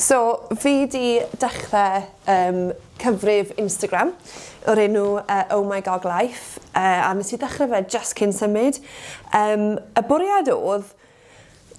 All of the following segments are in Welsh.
So, fi 'di dechre yym cyfrif Instagram o'r enw yy Oh My Gog Life yy a nes i ddechre fe jyst cyn symud yym y bwriad odd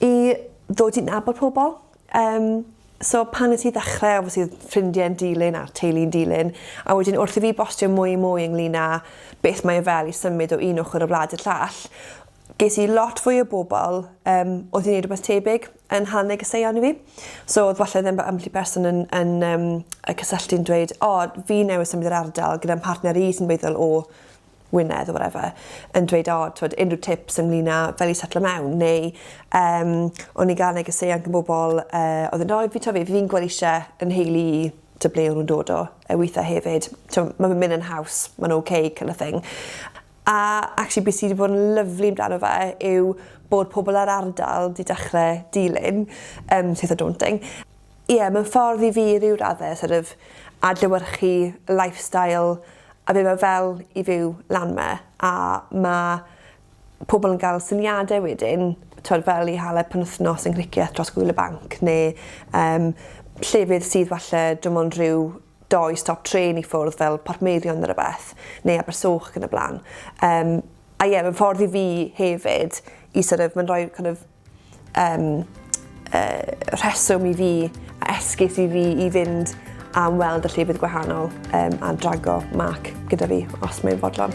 i ddod i nabod pobol yym so pan nes i ddechre obviously odd ffrindie'n dilyn a'r teulu'n dilyn a wedyn wrth i fi bostio mwy a mwy ynglŷn â beth mae e fel i symud o un ochor y wlad i'r llall Ges i lot fwy o bobl yym oedd yn neud rwbeth tebyg yn Nhal Negeseuon i fi. So odd falle ddim by- ambell i berson yn yn yym yy cysylltu'n dweud o fi newydd symud i'r ardal gyda'n mhartner i sy'n feddwl o Wynedd or whatever yn dweud o t'wod unryw tips ynglŷn â fel i setlo mewn neu yym o'n i ga'l negeseuon gin bobol yy odd yn roi fi t'o' fi fi'n gwel isie 'yn nheulu i t'o' ble o' nw'n dod o yy withe hefyd t'o' ma' fe'n myn' yn haws ma'n oce kin' o' thing. A actually be' sy 'di bod yn lyfli amdano fe yw bod pobol yr ardal 'di dechre dilyn yym Taste of Daunting. Ie ma'n ffordd i fi i ryw radde sort of adlewyrchu lifestyle a be' ma' fel i fyw lan 'ma a ma' pobol yn ga'l syniade wedyn t'wod fel i hala penwthnos yng Nghricieth dros gŵyl y banc ne' yym llefydd sydd falle dim ond rhyw doi stop trên i ffwrdd fel Portmeirion ne' rwbeth, neu Abersoch ac yn y bla'n. Yym, a ie, mae'n ffordd i fi hefyd i sor' of, mae'n rhoi kin' of yym yy rheswm i fi, a esgus i fi i fynd am weld y llefydd gwahanol yym a drago Mark gyda fi, os mae'n fodlon.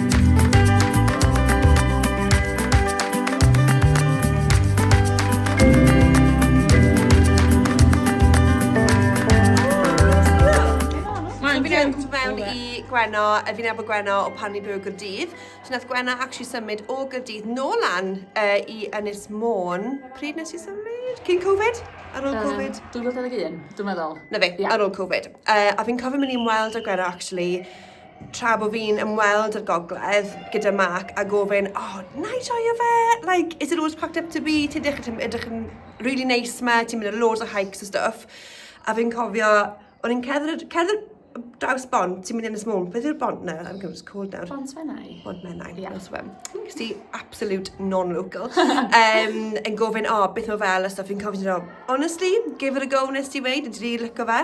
Gwenno, a fi'n efo Gwenno o pan ni'n byw o Gyrdydd. So nath Gwenno actually symud o Gyrdydd nôl lan uh, i Ynys Môn. Pryd nes i symud? Cyn Covid? Ar ôl um, Covid? 2021, dwi'n meddwl. Na fe, yeah. ar ôl Covid. Uh, a fi'n cofio mynd i'n weld o Gwenno actually tra bo fi'n ymweld â'r gogledd gyda Mark a gofyn, oh, na i joio fe? Like, is it always packed up to be? Ti'n edrych, ti'n edrych yn really nice ma, ti'n mynd ar loads o hikes a stuff. A fi'n cofio, o'n i'n cerdded, cerdded draws bont, ti'n mynd yn ys môn, beth yw'r bont na? I'm going to call down. Bont Menai. Bont Menai, yeah. that's one. Cys ti absolute non-local. um, yn gofyn, o, oh, beth o fel a stuff, fi'n cofyn, oh, honestly, give it a go nes ti weid, yn ti'n rili lyco fe.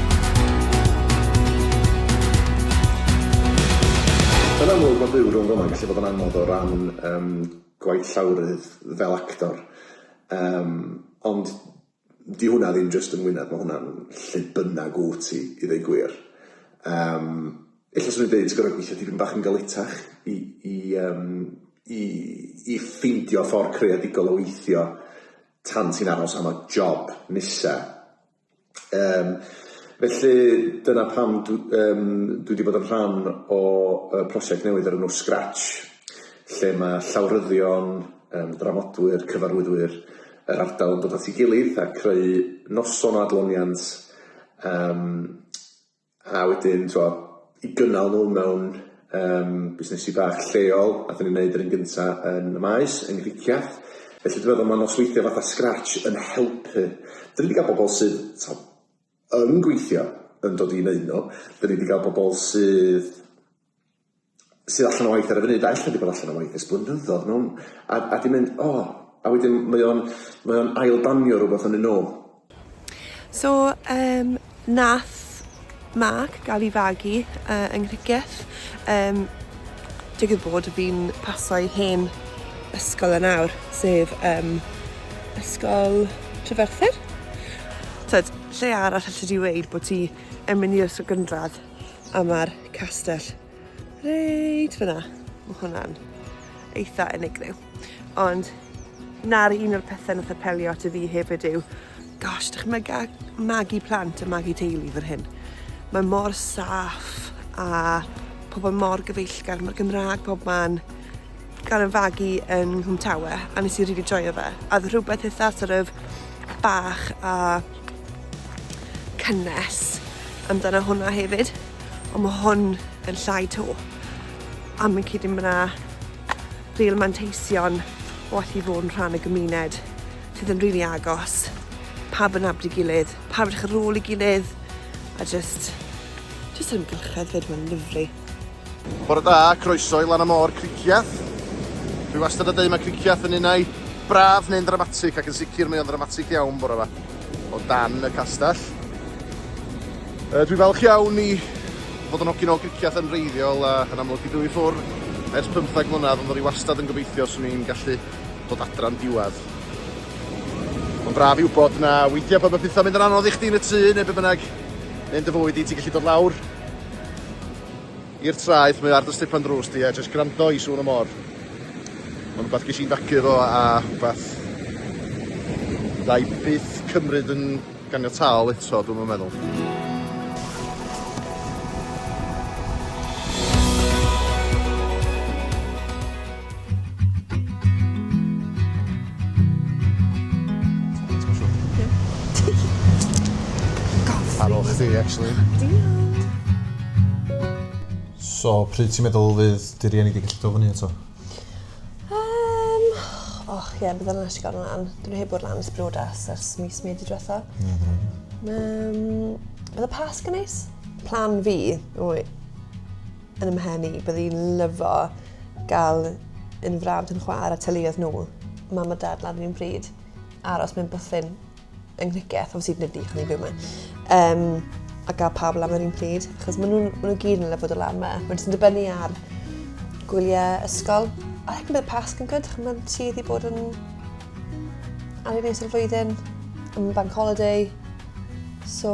Yn amlwg mae byw rhwng fel'na yn gallu bod yn anodd o ran yym gwaith llawrydd fel actor yym ond 'di hwnna ddim jyst yng Ngwynedd ma' hwnna'n lle bynnag wt ti i ddeu gwir yym ella 'swn i'n deud ti gor'o' gwithio tipyn bach yn galetach i i yym i i ffeindio ffor creadigol o weithio tan ti'n aros am y job nesa. Yym felly dyna pam dw- yym dwi 'di bod yn rhan o yy prosiect newydd o'r enw Scratch lle ma' llawryddion yym dramodwyr, cyfarwyddwyr yr ardal yn dod at 'i gilydd a creu noson o adloniant yym A wedyn t'wo' i gynnal n'w mewn yym busnesi bach lleol a 'dan ni'n neud yr un gynta yn y Maes yng Nghricieth felly dwi meddwl ma' nosweithie fatha sgrats yn helpu. 'Dyn ni 'di ga'l bobol sydd t'o' yn gweithio yn dod i neud n'w, 'dyn ni 'di ga'l bobol sydd sydd allan o waith ar y funud a ella wedi bod allan o waith ers blynyddodd mewn a a di mynd o a wedyn mae o'n mae o'n ail danio rwbath yn ei nôl. So yym nath Mark ga'l i fagu yy yng Nghricieth yym digwydd bod fi'n paso ei hen ysgol yn nawr sef yym ysgol Treferthyr. T'od lle arall allet ti weud bo' ti yn mynd i'r ysgol gynradd a mae'r castell reit fyna. Mae hwnna'n eitha unigryw. Ond na'r un o'r pethau nath apelio at y fi hefyd yw, gosh, dychmyga magu plant a magu teulu fan hyn. Mae mor saff a pobl mor gyfeillgar, mae'r Gymraeg pob man. gan y fagu yn Nghwmtawe a nes i rili really joio fe. A oedd rhywbeth eitha sort of bach a cynnes amdano hwnna hefyd. Ond mae hwn yn llai to. A mae'n cyd yn fyna real manteision o allu fod yn rhan o gymuned sydd yn rili really agos. Pa yn abdi gilydd, pa yn eich rôl i gilydd. A just, just yn gylchedd fyd, mae'n lyflu. Bore da, croeso i Lan y Môr Cricieth. Dwi wastad yn deud mae Cricieth yn un ai braf neu'n ddramatig ac yn sicr mae o'n ddramatig iawn bore yma o dan y castell. Uh, dwi falch iawn i fod yn hogyn o Cricieth yn reiddiol a yn amlwg i dwy ffwr ers 15 mlynedd ond o'n i wastad yn gobeithio swn i'n gallu dod adran diwedd. Mae'n braf i wybod na weithiau pan mae pethau'n mynd yn anodd i chdi yn y tŷ neu be bynnag neu'n dy fywyd i ti'n gallu dod lawr I'r traeth, mae ar dy stipan drws di a jyst gwrando i sŵn y môr. Mae'n rhywbeth ges i'n fagu efo a rhywbeth da i byth cymryd yn ganiataol eto, dwi'n yn meddwl. Ar ôl chdi, actually. Diolch! So, pryd ti'n meddwl fydd dy rieni wedi gallu dod fyny eto? Um, och, ie, yeah, byddai'n nes i gael lan. Dwi'n heb bod lan ys briodas ers mis medi diwetha. Um, bydd y pas gynnais? Plan fi, wy, yn 'y mhen i, bydde i'n lyfo gael un frawd yn chwar a teuluoedd nhw, mam a dad lan yr un pryd, aros mewn bwthyn yng Nghriceth, obviously nid ni, chwn i'n byw mewn, um, a gael pawb lan yr un pryd, achos maen nhw'n nhw gyd yn lyfod o lan yma. Mae'n jyst yn dibynnu ar gwyliau ysgol. A hec yn bydd pasg yn gwyd, mae'n tudd i bod yn ar ei nes o'r flwyddyn, yn bank holiday, so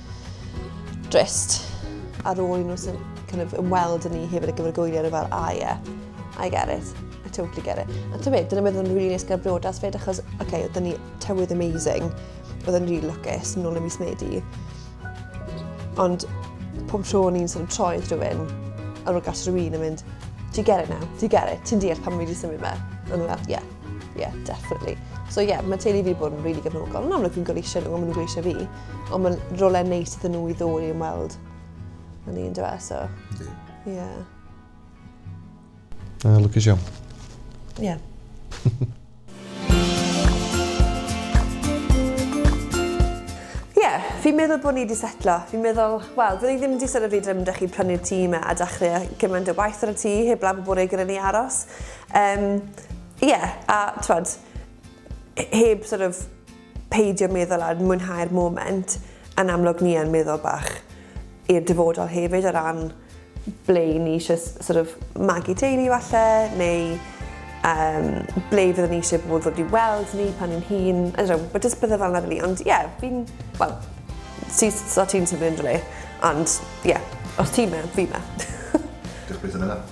Drist. Ar ôl i nhw sy'n kind of ymweld yn ni hefyd y gyfer gwyliau nhw fel, ah yeah, I get it. I totally get it. A ti'n meddwl, dyna beth oedd yn rili nes gyda'r brodas fyd, achos, oce, okay, oedden ni tywydd amazing, oedd yn rili lwcus, yn ôl y mis Medi. Ond pob tro o'n i'n sort of troi rhywun, ar ôl gasio rhywun yn mynd, do you get it now? Do you get it? Ti'n deall pan mae wedi symud yma? A nhw'n fel, yeah, yeah, definitely. So yeah, mae teulu fi bod yn rili really gefnogol. Yn amlwg fi'n goleisio nhw, ond maen nhw'n gweisio fi. Ond mae'n rolau neis iddyn nhw i ddod i ymweld yn un dweud, e, so... Ydy. Ie. Yeah. Uh, lwcus iawn. Ie. Yeah. Fi'n meddwl bod ni wedi setlo. Fi'n meddwl, wel, byddwn i ddim wedi sylwi fi ddim ddech i prynu'r tî yma a dachrau gymaint o waith ar y tî heb lan bod e gyda ni aros. Um, yeah, a, twad, heb sort of Peidio meddwl ar mwynhau'r moment, yn amlwg ni yn meddwl bach i'r dyfodol hefyd o ran ble i ni eisiau sort of magu teulu falle, neu um, ble fyddwn ni eisiau bod ddod i weld ni pan ni'n hun, I don't know, but just bydde fel yna rili, ond ie, yeah, fi'n, wel, ti, so ti'n symud yn dyle, ond ie, yeah, os ti'n me, fi'n me. Diolch beth yn yna.